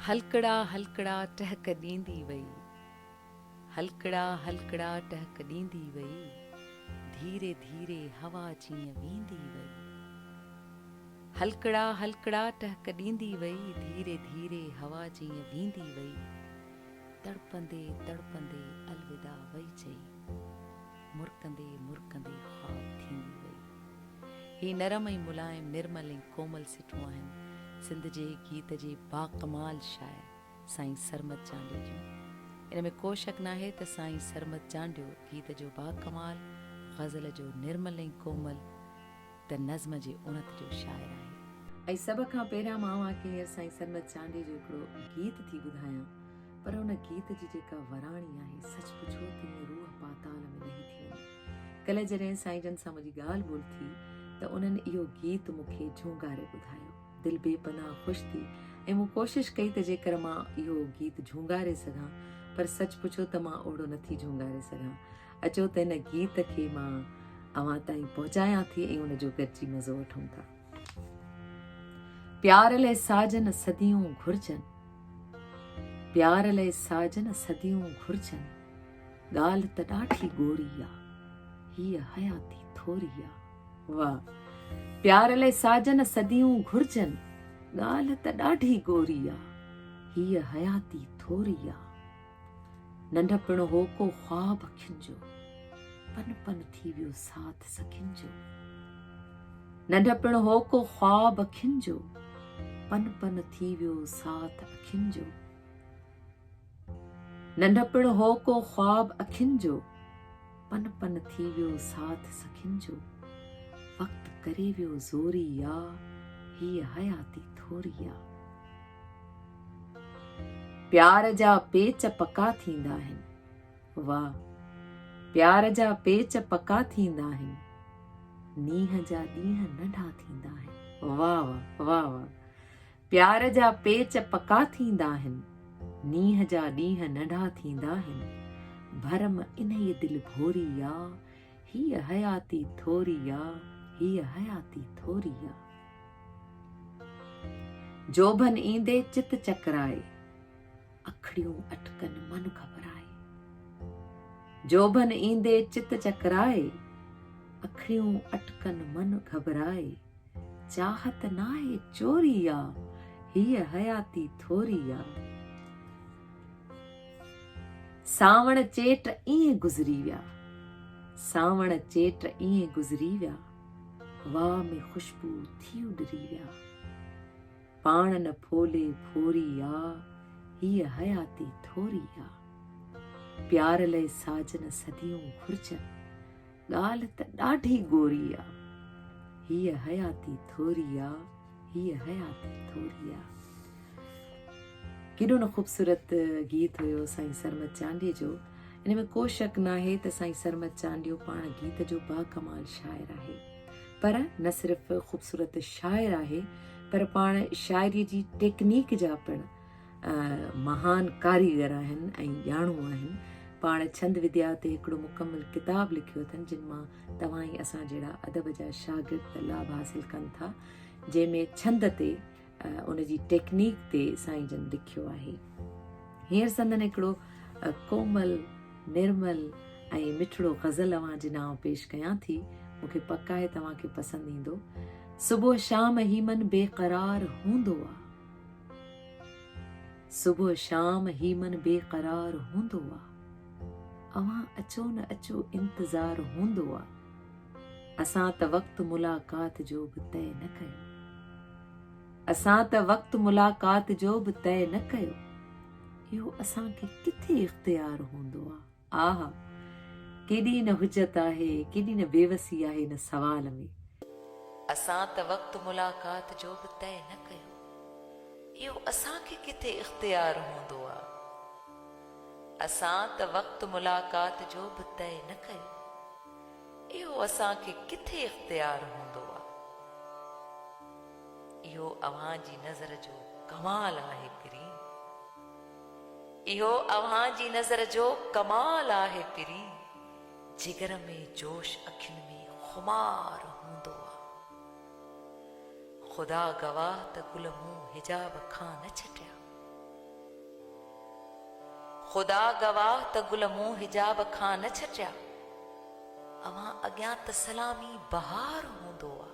هلڪڙا هلڪڙا ٽهڪ ڏيندي وئي. هلڪڙا هلڪڙا ٽهڪ ڏيندي وئي. ڌيري ڌيري هوا جيئن ويندي وئي. هلڪڙا هلڪڙا ٽهڪ ڏيندي وئي. ڌيري ڌيري هوا جيئن ويندي وئي. تڙپندي تڙپندي الوداع وئي چئي. مرڪندي مرڪندي خواب ٿيندي وئي. هي نرم ۽ ملائم، نرمل ۽ ڪومل سٽون آهن سنڌ جي گيت جي باڪمال شاعر سائين سرمد چانڊيو جون. ان ۾ ڪو شڪ ناهي ته سائين سرمد چانڊيو گيت جو باڪمال، غزل جو نرمل ۽ ڪومل، ته نظم جي اڻت جو شاعر آهي. ۽ سڀ کان پهريان مان اوهان کي هينئر سائين سرمد چانڊيي جو هڪڙو گيت ٿي ٻڌايان، پر ان گيت جي جيڪا وراڻي آهي، سچ پڇو ته ائين روح پاتال ۾ لهي ٿي وڃي. ڪلهه جڏهن سائين جن سان منهنجي ڳالهه ٻولهه ٿي ته انهن اهو گيت مون کي جهونگاري ٻڌايو. دل بي پناهه خوش ٿي ۽ مون ڪوشش ڪئي ته جيڪر مان اهو گيت جهونگاري سگهان، پر سچ پڇو ته مان اوهڙو نٿي جهونگاري سگهان. اچو ته هن گيت کي مان اوهان تائين پهچايان ٿي ۽ ان جو گڏجي مزو وٺون ٿا پيار لئي ساجن صديون گهرجن پيار لئي ساجن صديون گهرجن ڳالهه ته ڏاڍي ڳوري آهي هي حياتي ٿوري آهي واهه پيار لئي ساجن صديون گهرجن ڳالهه ته ڏاڍي ڳوري آهي هي حياتي ٿوري آهي ننڍپڻ هو ڪو خواب اکين جو پن پن ٿي ويو ساٿ سکين جو ننڍپڻ هو ڪو خواب اکين جو پن پن ٿي ويو ساٿ اکين جو ننڍپڻ هو ڪو خواب اکين جو پن پن ٿي ويو ساٿ سکين جو وقت ڪري ويو زوري يا هي حياتي ٿوري يا پيار جا پيچ پڪا ٿيندا آهن. واهه پيار جا پيچ پڪا ٿيندا آهن. نينهن جا ڏينهن ننڍا ٿيندا آهن. واهه واهه واهه واهه پيار جا پيچ پڪا ٿيندا آهن. نينهن جا ڏينهن ننڍا ٿيندا آهن. ڀرم انهيء دل ڀوري آ. هيء حياتي ٿوري آ، هيء حياتي ٿوري آ. جوڀن ايندي چت چڪرائي، اکڙيون اٽڪن من گهٻرائي. جوڀن ايندي چت چڪرائي، اکڙيون اٽڪن من گهٻرائي. چاهت ناهي چوري آ، هيء حياتي ٿوري آ. سانوڻ چيٽ ائين گذري ويا. سانوڻ چيٽ ائين گذري ويا. واهه ۾ خوشبو ٿي اڏري ويا. پاڻ نه ڦولي ڦوري آ. هيء حياتي ٿوري آ. پيار لئي ساجن صديون گهرجن. ڳالهه ته ڏاڍي گوري آ. هيء حياتي ٿوري آ، هيء حياتي ٿوري آ. ڪيڏو نه خوبصورت گيت هيو سائين سرمد چانڊيي جو ان ۾ ڪو شڪ ناهي ته سائين سرمد چانڊيو پاڻ گيت جو با ڪمال شاعر آهي پر نه صرف خوبصورت شاعر آهي پر پاڻ شاعري جي ٽيڪنيڪ جا پڻ مهان ڪاريگر آهن ۽ ڄاڻو آهن. پاڻ ڇند وديا تي هڪڙو مڪمل ڪتاب لکيو اٿن جن مان توهان ۽ اسان جهڙا ادب جا شاگرد لاڀ حاصل ڪن ٿا جنهن ۾ ڇند تي ان جي ٽيڪنيڪ تي سائين جن لکيو آهي هينئر سندن هڪڙو ڪومل نرمل ۽ مٺڙو غزل اوهان جي نام پيش ڪيان ٿي مونکي پڪ آهي توهان کي پسند ايندو صبح شام هيمن بي قرار هوندو آ صبح شام هي من بي قرار هوندو آ اوهان اچو نه اچو انتظار هوندو آ اسان ته وقت ملاقات جو به طئي نه ڪيو اسان ته وقت ملاقات جو به طئي نه ڪيو اهو اسان کي ڪٿي اختيار هوندو آ آه! ڪيڏي نه حجت آهي، ڪيڏي نه بيوسي آهي ان سوال ۾. اسان ته وقت ملاقات جو به طئي نه ڪيو، اهو اسان کي ڪٿي اختيار هوندو آ؟ اسان ته وقت ملاقات جو به طئي نه ڪيو، اهو اسان کي ڪٿي اختيار هوندو آ؟ اهو اوهان جي نظر جو ڪمال آهي پرين. اهو اوهان جي نظر جو ڪمال آهي پرين جگر ۾ جوش اکين ۾ خمار هوندو آ خدا گواه ته گل مون حجاب کان نه ڇٽيا خدا گواه ته گل مون حجاب کان نه ڇٽيا اوهان اڳيان ته سلامي بهار هوندو آ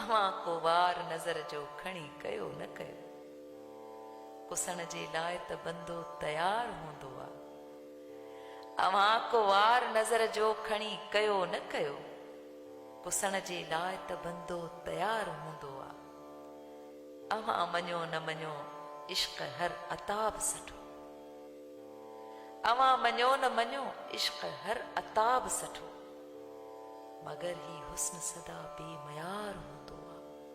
اوهان ڪو وار نظر جو کڻي ڪيو نه ڪيو پسڻ جي لاء ته بندو تيار هوندو آ. اوهان ڪو وار نظر جو کڻي ڪيو نه ڪيو، پسڻ جي لاء ته بندو تيار هوندو آ. اوهان مڃو نه مڃو عشق هر عتاب سٺو. اوهان مڃو نه مڃو عشق هر عتاب سٺو. مگر هي حسن سدا بي ميار هوندو آ.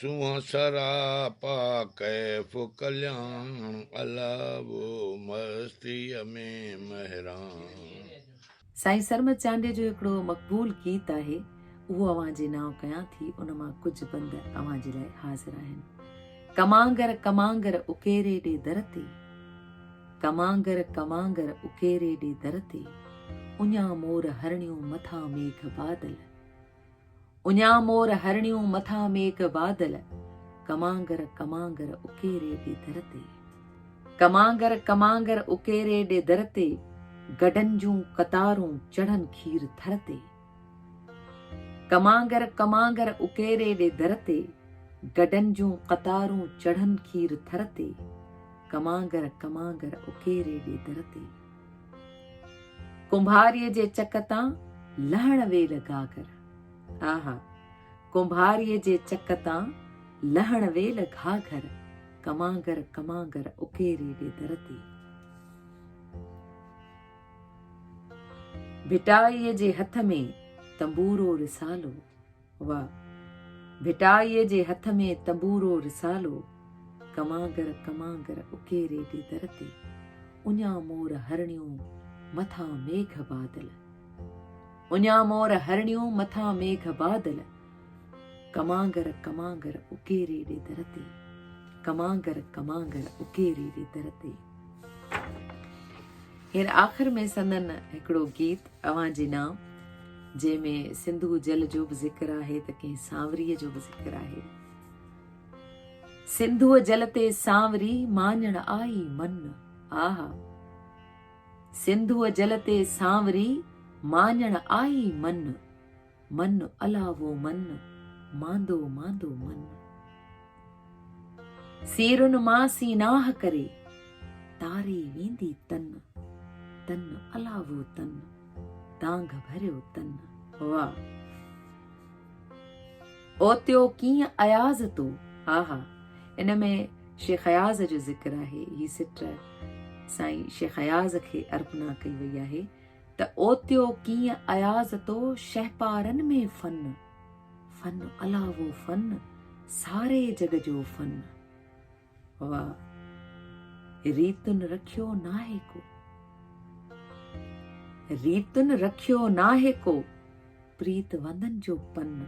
سونهن سراپا ڪيف ڪلياڻ الاهو مستيء ۾ مهراڻ. سائين سرمد چانڊيو جو هڪڙو مقبول گيت آهي اهو اوهان جي نانء ڪيان ٿي ان مان ڪجهه بند اوهان جي لاء حاضر آهن ڪمانگر ڪمانگر اڪيري ڏي در تي ڪمانگر ڪمانگر اڪيري ڏي در تي اڃان مور هرڻيون مٿان ميگهه بادل اڃا مور هرڻيون مٿان ميگهه بادل ڪمانگر ڪمانگر اڪيري ڏي در تي ڪمانگر ڪمانگر اڪيري ڏي در تي گڊن جون قطارون چڙهن کير ٿر تي ڪمانگر ڪمانگر اڪيري ڏي در تي گڊن جون قطارون چڙهن کير ٿر تي ڪمانگر ڪمانگر اڪيري ڏي در تي ڪنڀاريء جي چڪ تان لهڻ ويل گهاگهر آها ڪنڀاريء جي چڪ تان لهڻ ويل گهاگهر ڪمانگر ڪمانگر اڪيري ڏي در تي ڀٽائيء جي هٿ ۾ تنبورو رسالو و ڀٽائيء جي هٿ ۾ تبورو رسالو، ڪمانگر ڪمانگر اڪيري جي در تي، اڃا مور هرڻيون مٿان ميگهه بادل، اڃا مور هرڻيون مٿان ميگهه بادل، ڪمانگر ڪمانگر اڪيري جي در تي، ڪمانگر ڪمانگر اڪيري جي در تي. هينئر آخر ۾ سندن هڪڙو گيت اوهان جي نام جنهن ۾ سنڌو جل جو به ذڪر آهي ته ڪنهن سانوري جو به ذڪر آهي سنڌو جل تي سانوري ماڃڻ آئي من آها سنڌو جل تي سانوري ماڃڻ آئي من من الاهو من، ماندو ماندو من. سيرن مان سيناهه ڪري، تاري ويندي تن. تن الاهو تن، دانگ ڀريو تن. واهه! اوتيو ڪيئن اياز تو. آها! ان ۾ شيخ اياز جو ذڪر آهي. هي سٽ سائين شيخ اياز کي ارپنا ڪئي وئي آهي. ته اوتيو ڪيئن اياز تو شهپارن ۾ فن فن الاهو فن ساري جڳ جو فن وا ريتن رکيو ناهي ڪو ريتن رکيو ناهي ڪو پريت وندن جو پن،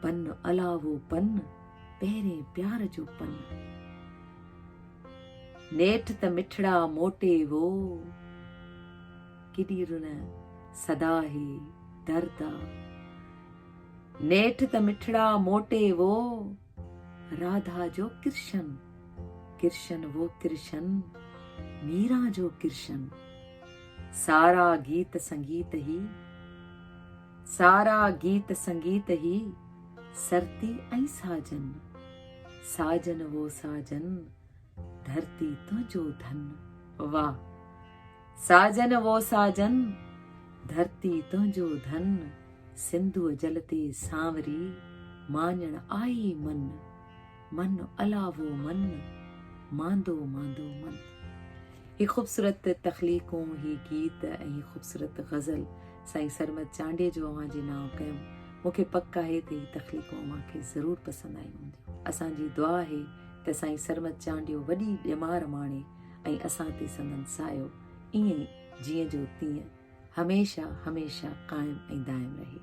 پن الاهو پن، پهرين پيار جو پن. نيٺ ته مٺڙا موٽي وو، ڪيڏي رن سدا هي درد آ. نيٺ ته مٺڙا موٽي وو. راڌا جو ڪرشن، ڪرشن وو ڪرشن، ميرا جو ڪرشن. سارا گيت سنگيت هي، سارا گيت سنگيت هي، سرتي ۽ ساجن، ساجن وو ساجن. ڌرتي تنهنجو ڌن واه ساجن وو ساجن ڌرتي تنهنجو ڌن سنڌوء جل تي سانوري ماڃڻ آئي من من الاوو من ماندو ماندو من هي خوبصورت تخليقون هي گيت ۽ هي خوبصورت غزل سائين سرمد چانڊي جو اوهان جي ناو ڪيم مونکي پڪ آهي ته هي تخليقون اوهان کي ضرور پسند آيون هونديون اسان جي دعا آهي ته سائين سرمد چانڊيو وڏي ڄمار ماڻي ۽ اسان تي سندن سايو ايئن جيئن جو تيئن هميشه هميشه قائم ۽ دائم رهي.